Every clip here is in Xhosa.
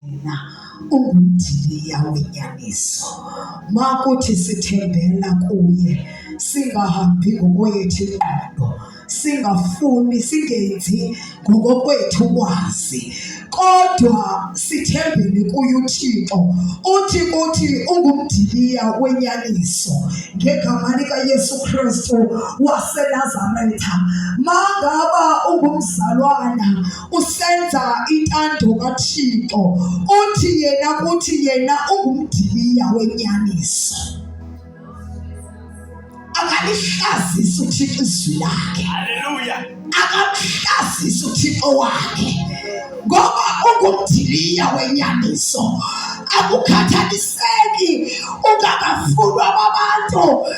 Yena ungumdiliya wenyaniso. Makuthi sithembela kuye, singahambi ngokwethu ingqondo, singafuni singenzi ngokokwethu kwazi, kodwa sithembele kuye uThixo. Uthi kuthi ungumdiliya wenyaniso ngegama likaYesu Kristu waseNazaretha. Mangaba ungumzalwana usenza intando kaThixo uthi yena kuthi yena ungumdiliya wenyaniso akalihlazisi uthixo izwi lakhe haleluya akamhlazisi uthixo wakhe ngoba ungumdiliya wenyaniso akukhathaliseki ungakafunwa babantu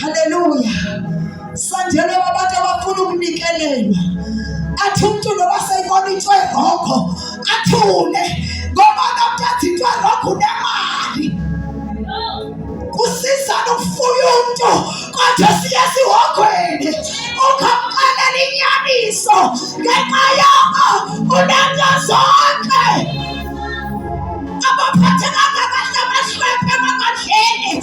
Haleluya! Sandele wabantu abafuna ukunikelelwa, athi umntu noba seyibona into erongo athule, ngoba nomntu athi into erongo unemali. Kusiza nokufuya umntu kodwa siye sihogweni ukamxelela inyaniso ngenxa yoko unento zonke abaphathekanga kahle abahlwempe emakadleni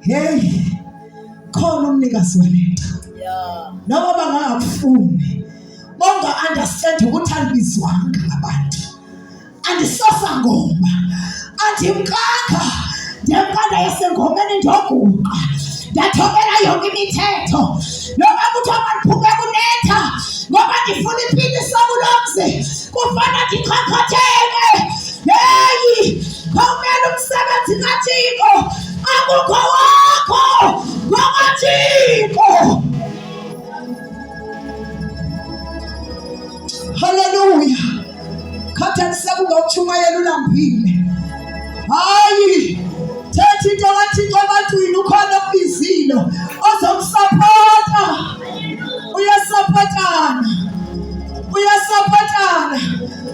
Hey, khona umnikazi walento noma bangangakufuni bonga understand ukuthi andibizwanga ngabantu andisasa ngoma andimkakha ndiyempanda yasengomeni ndiyoguqa ndathobela yonke imithetho noba kuthiwa mandiphume kunetha ngoba ndifuna ipinisa kulo mzi kufana ndikhokhothe yeyi khawumele umsebenzi kathixo akukho wakho ngokathixo haleluya khathalisa kungawutshumayela ulambile hayi thatha into kathixo ebantwini ukhona okubizile ozomsapota uyasapotana uyasapotana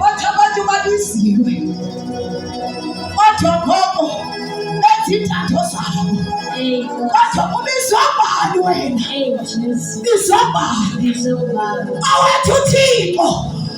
Wathi abantu babiziwe, wathi okhoko benza iintatho zabo, wathi ubizwa bani wena? Bizwa bani? Awethu Thixo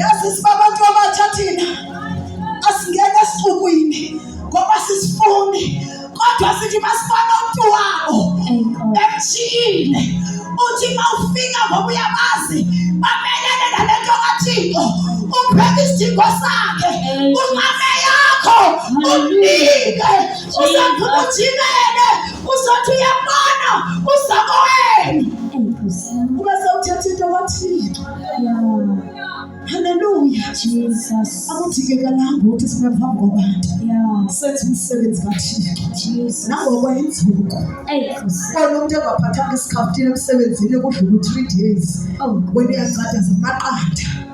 yazi sibabantu abatsha thina asingena esixukwini ngoba sisifuni kodwa sithi masibona umntu wabo emshiyile uthi ma ufika ngoba uyabazi bamelele nale nto kathixo upheka isidingo sakhe unqame yakho umnike usaphuma ujimele Uzothi uyabona uzobo wenu. Kuba sewuthetha into kwathile. Haleluya. Jesus. Akudingekalanga ukuthi sibe phambi kwabantu. Yeah. Senze umsebenzi kaThixo. Jesus. Nangoko yinzuko. Hey. Kona umuntu engaphathanga isikhaftini emsebenzini kudlula u-3 days. Oh. Wena uyaqada zamaqanda.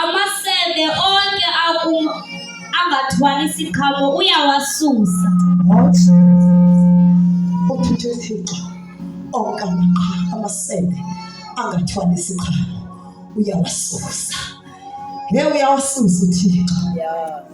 Amasebe onke akum angathwali isiqhamo uyawasusa. What? Uthuthe uThixo onke amaqhamo amasebe angathwali isiqhamo uyawasusa. He uyawasusa uThixo. Yeah.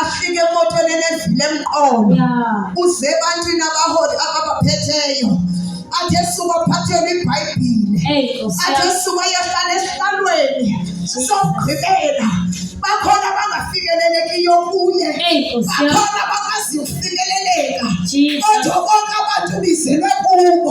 afike emotweni enevile emqolo uze ebantwini abaholi ababaphetheyo athi esuka aphathele ibhayibhile athi esuka yehlala esihlalweni sokugqibela bakhona abangafikelelekiyo kuye bakhona abakwazi ukufikeleleka kodwa konke abantu bizelwe kubo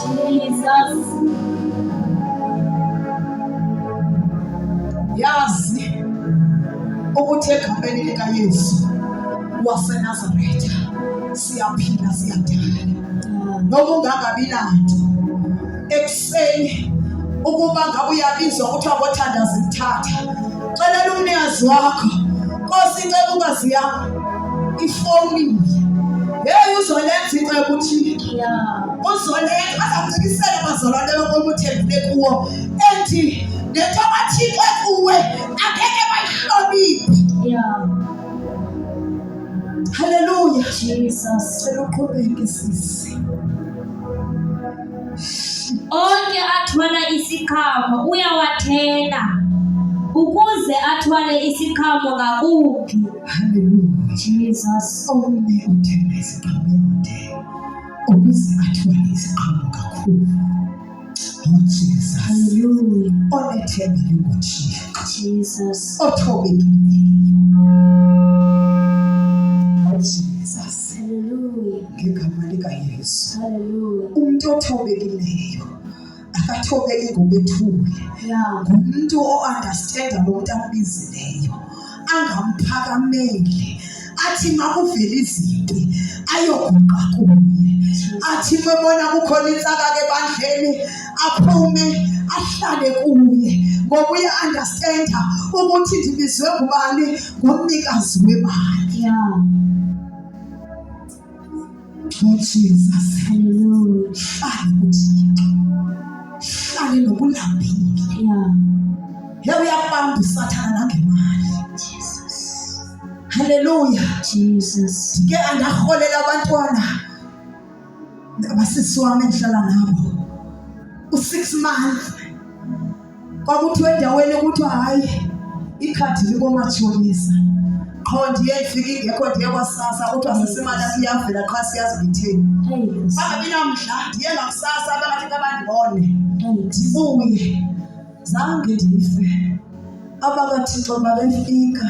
Jesus. Yazi ukuthi egameni likaYesu waseNazaretha siyaphila siyadala noma ungangabi nanto ekuseni ukuba ngabe uyabizwa kuthiwa kothandaza imthatha celela umnikazi wakho nkosi ncela ungazi yami ifowuni yeyi uzolenza into yokuthile uzolenza bazamcikisela bazalwane yokomuthembile kuwo ethi nento athikwe kuwe angeke bayihloniphi haleluya jesus cela uqhubeke sisi onke athwala isikhamo uyawathela ukuze athwale isikhamo ngakumbi Hallelujah. Jesus. Omnye uthenga iziqhamo yodee ukuze athwale iziqhamo kakhulu. Oh Jesus. Hallelujah. Onethemba linguthixo. Jesus. Othobekileyo. Oh Jesus. Hallelujah. Ngegama likayesu Hallelujah. umntu othobekileyo akathobeki ngobethule ngumntu oandastenda lo mntu ambizileyo angamphakameli athi makuvele izinto ayoguqa kuye athi mebona kukhona intsaka ke bandleni aphume ahlale kuye ngoba uya-andastenda ukuthi ndibizwe ngubani ngumnikazi wemali Oh Jesus, hallelujah. Hlale nokulambile. Yeah. Yebo uyabamba usathana nangemali. Jesus. Hallelujah. Jesus. Ke andaholela abantwana. Abasisi wami engihlala nabo. U6 months kwakuthiwa endaweni kuthiwa hayi ikhadi likomatshonisa qho ndiye ndifike ingekho ndiye kwasasa kuthiwa sesimali asiyavela qha siyazi ngithini bangabi namdla ndiye ngakusasa bangathi kabandibone ndibuye zange ndife abakathixo babefika